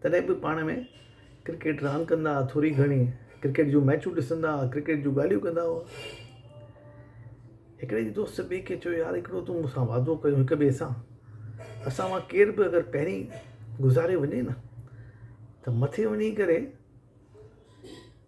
تڏهن به پاڻ ۾ ڪرڪيٽ راند ڪندا ها ٿوري گهڻي ڪرڪيٽ جون ميچون ڏسندا ها ڪرڪيٽ جون ڳالهيون ڪندا هئا هڪڙي ڏينهن دوست ٻي کي چيو يار هڪڙو تون مون سان وعدو ڪيو هڪ ٻئي سان اسان مان ڪير به اگر پهرين گذاري وڃي نه ته مٿي وڃي ڪري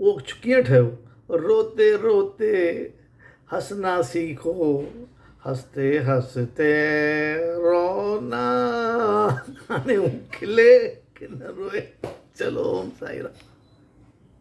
اهو ڪيئن ٺهيو؟ روتي روتي هسنا سيکو هستي هستي رونا هاڻي هو کلي ڪي نه روئي چلو اوم سائين رام.